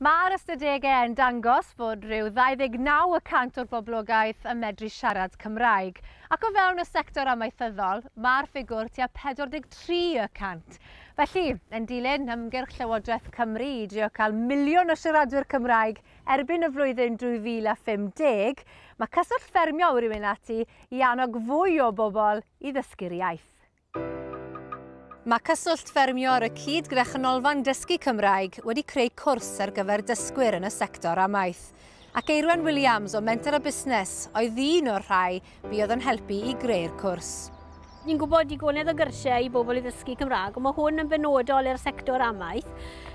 Mae'r ystadegau yn dangos bod rhyw 29 y cant o'r boblogaeth yn medru siarad Cymraeg, ac o fewn y sector amaethyddol, mae'r ffigwr tua 43 y cant. Felly, yn dilyn ymgyrch Llywodraeth Cymru i drio cael miliwn o siaradwyr Cymraeg erbyn y flwyddyn 2050, mae Cyswllt Ffermio wedi mynd ati i annog fwy o bobl i ddysgu'r iaith. Mae Cyswllt Ffermio ar y cyd gyda Chanolfan Dysgu Cymraeg wedi creu cwrs ar gyfer dysgwyr yn y sector amaeth, ac Eirwen Williams o Menter a Busnes oedd un o'r rhai bu oedd yn helpu i greu'r cwrs. Ni'n gwybod digonedd o gyrsiau i bobl i ddysgu Cymraeg, ond mae hwn yn benodol i'r sector amaeth.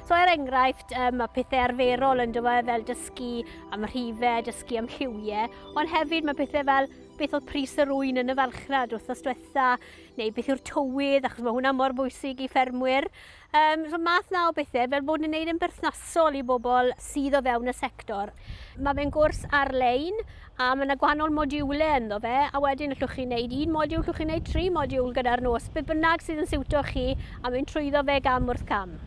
So er enghraifft, um, mae pethau arferol yn dywe fel dysgu am rhife, dysgu am lliwiau, ond hefyd mae pethau fel beth oedd pris yr ŵyn yn y farchnad wythnos gweithdrefnadau, neu beth yw'r tywydd, achos mae hwnna mor bwysig i ffermwyr. Um, so math na o bethau, fel bod yn gwneud yn berthnasol i bobl sydd o fewn y sector. Mae fe'n gwrs ar-lein, a mae yna gwahanol modiwlau ynddo fe, a wedyn allwch chi wneud un modiwl, allwch chi wneud tri modiwl gyda'r nos, beth bynnag sydd yn siwto chi, a mynd trwyddo fe gam wrth gam.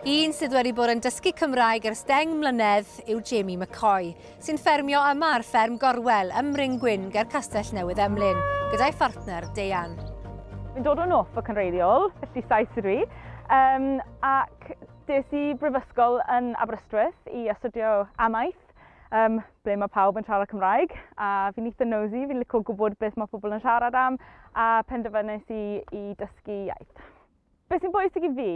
Un sydd wedi bod yn dysgu Cymraeg ers deng mlynedd yw Jamie McCoy. sy'n ffermio yma ar fferm Gorwel ym Mryn Gwyn ger Castell Newydd Emlyn, gyda'i phartner Deian. Fi'n dod o Norfolk yn wreiddiol, felly Sais ydw i, um, ac des i brifysgol yn Aberystwyth i astudio amaeth, um, ble mae pawb yn siarad Cymraeg, a fi'n eitha nosy, fi'n licio gwybod beth mae pobl yn siarad am, a penderfynais i i dysgu iaith. Beth sy'n bwysig i fi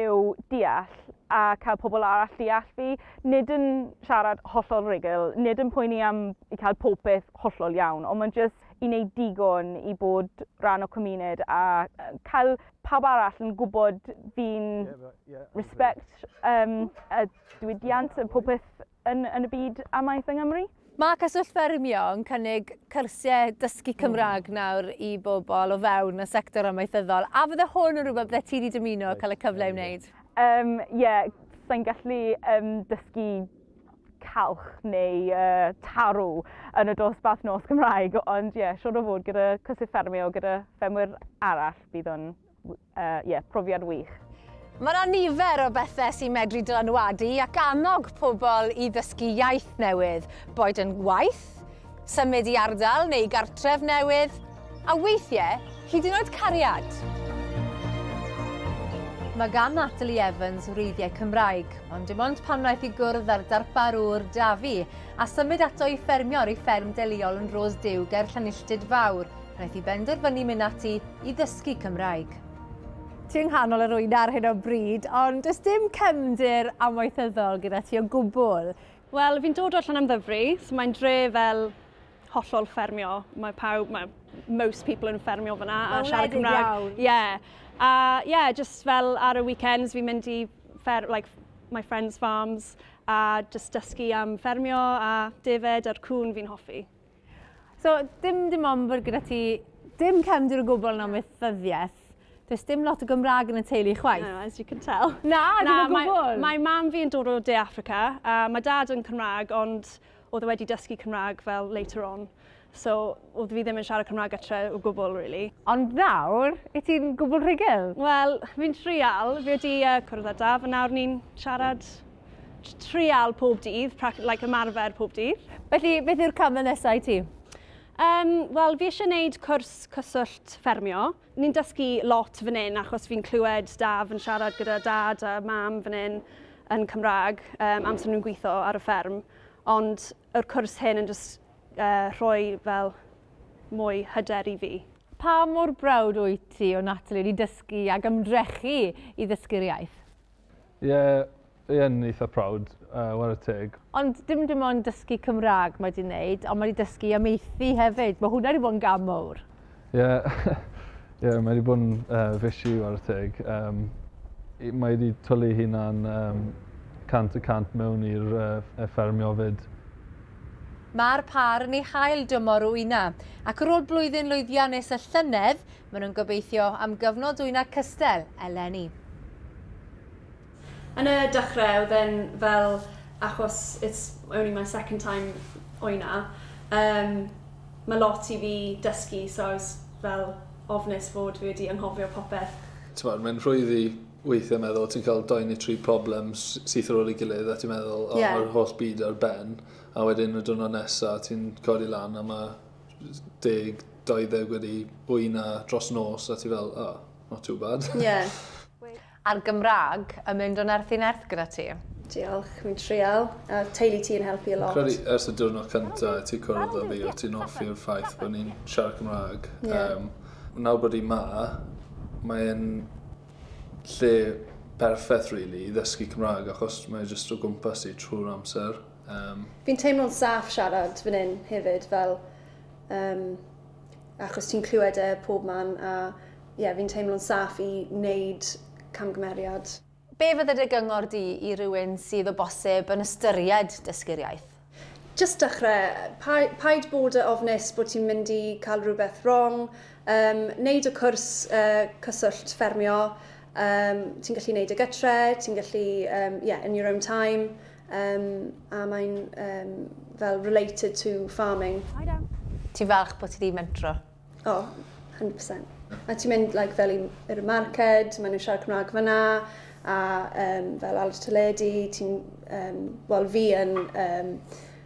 yw deall a cael pobl arall deall fi, nid yn siarad hollol rhugl, nid yn poeni am i cael pob peth hollol iawn, ond mae'n jyst i wneud digon i bod rhan o cymuned a cael pawb arall yn gwybod fi'n respect um, a diwydiant a pob peth yn yn y byd amaeth yng Nghymru. Mae Cyswllt Ffermio yn cynnig cyrsiau dysgu Cymraeg nawr i bobl o fewn y sector amaethyddol, a fydde hwn yn rhywbeth bydde ti wedi dymuno cael y cyfle i wneud? Um, ie, sa'n gallu um, dysgu calch neu uh, tarw yn y dosbarth nos Cymraeg, ond ie, yeah, siwr o fod gyda cyswllt ffermio, gyda ffermwyr arall, bydd o'n uh, yeah, profiad wych. Mae yna nifer o bethau sy'n medru dylanwadu ac annog pobl i ddysgu iaith newydd, boed yn waith, symud i ardal neu gartref newydd, a weithiau hyd yn oed cariad. Mae gan Natalie Evans wreiddiau Cymraeg, ond dim ond pan wnaeth i gwrdd â'r darparwr Dafi a symud ato i ffermio ar ei fferm deliol yn Rose Dew ger Llanilltud Fawr, Wnaeth hi benderfynu mynd ati i ddysgu Cymraeg. Ti yng nghanol yr wyna ar hyn o bryd, ond does dim cefndir amaethyddol gyda ti o gwbl. Wel, fi'n dod o Llanymddyfri, so mae'n dre fel hollol ffermio. Mae pawb, mae most people yn ffermio fyna a siarad Cymraeg. Ie. Yeah. A ie, yeah, just fel ar y weekends fi'n mynd i fer, like, my friends' farms a just dysgu am ffermio a defaid a'r cŵn fi'n hoffi. So, dim dim ond bod gyda ti dim cefndir o gwbl yn amaethyddiaeth. Does dim lot o Gymraeg yn y teulu chwaith. No, as you can tell. Na, dim o gwbl. Mae mam fi yn dod o De Africa, a mae dad yn Cymraeg, ond oedd e wedi dysgu Cymraeg fel later on. So, oedd fi ddim yn siarad Cymraeg etre o gwbl, really. Ond nawr, i ti'n gwbl rhugl? Wel, fi'n trial. Fi wedi uh, cwrdd â daf, a nawr ni'n siarad trial pob dydd, like ymarfer pob dydd. Felly, beth yw'r camau nesau i ti? Um, Wel, fi eisiau gwneud cwrs cyswllt ffermio. Ni'n dysgu lot fan hyn achos fi'n clywed daf yn siarad gyda dad a mam fan hyn yn Cymraeg um, amser nhw'n gweithio ar y fferm. Ond yr cwrs hyn yn just uh, rhoi fel mwy hyder i fi. Pa mor brawd wyt ti o Natalie wedi dysgu ac ymdrechu i ddysgu'r iaith? Ie, fi yn eitha proud, yy, ware teg. Ond dim dim ond dysgu Cymraeg mae 'di neud, ond mae 'di dysgu amaethu hefyd. Mae hwnna 'di bod yn gam mowr. Ie, ie, mae 'di bod yn uh, fishy ware teg. Um, mae wedi twlu hunan um, cant y cant mewn i'r uh, ffermio fyd. Mae'r pâr yn ei hail dymor o Una, ac ar ôl blwyddyn lwyddiannus y llynedd, Maen nhw'n gobeithio am gyfnod dwyna cystel eleni. Yn y dechrau oedd e'n fel achos it's only my second time oina um, mae lot i fi dysgu so I was fel ofnus fod fi wedi anghofio popeth. T'mod mae'n rhwydd i weithiau meddwl ti'n cael doi neu tri problem syth ar ôl ei gilydd a ti'n meddwl o yeah. mae'r holl byd ar ben a wedyn y diwrnod nesa ti'n codi lan a mae deg, 20 wedi bwy na dros nos a ti fel, oh, not too bad. Ie. Yeah. A'r Gymraeg yn mynd o nerth i nerth gyda ti? Diolch, fi'n trial. A teulu ti yn helpu a lot. Credu ers y diwrnod cyntaf i ti cwrdd o fi, o ti'n offi'r ffaith bod ni'n siarad Cymraeg. Yeah. Um, nawr bod i ma, mae'n lle perffaith, really, i ddysgu Cymraeg, achos mae'n jyst o gwmpas i trwy'r amser. Um. Fi'n teimlo'n saff siarad fan hyn hefyd fel um, achos ti'n clywed e pob man a ie yeah, fi'n teimlo'n saff i wneud camgymeriad. Be fydde dy gyngor di i rywun sydd o bosib yn ystyried dysgu'r iaith? Just dechrau. Pa, paid bod y ofnus bod ti'n mynd i cael rhywbeth wrong. Um, neud y cwrs uh, cyswllt ffermio. Um, ti'n gallu neud y gytre, ti'n gallu, um, yeah, in your own time. Um, a mae'n um, fel related to farming. I don't. Ti'n falch bod ti wedi mentro? O, oh, 100%. A ti'n mynd like, fel i'r marced, maen nhw'n siarad Cymraeg fyna, a um, fel al y teledu, ti'n, um, wel fi yn um,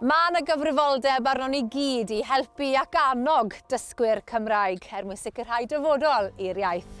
Mae yna gyfrifoldeb arnon i gyd i helpu ac annog dysgwyr Cymraeg er mwyn sicrhau dyfodol i'r iaith.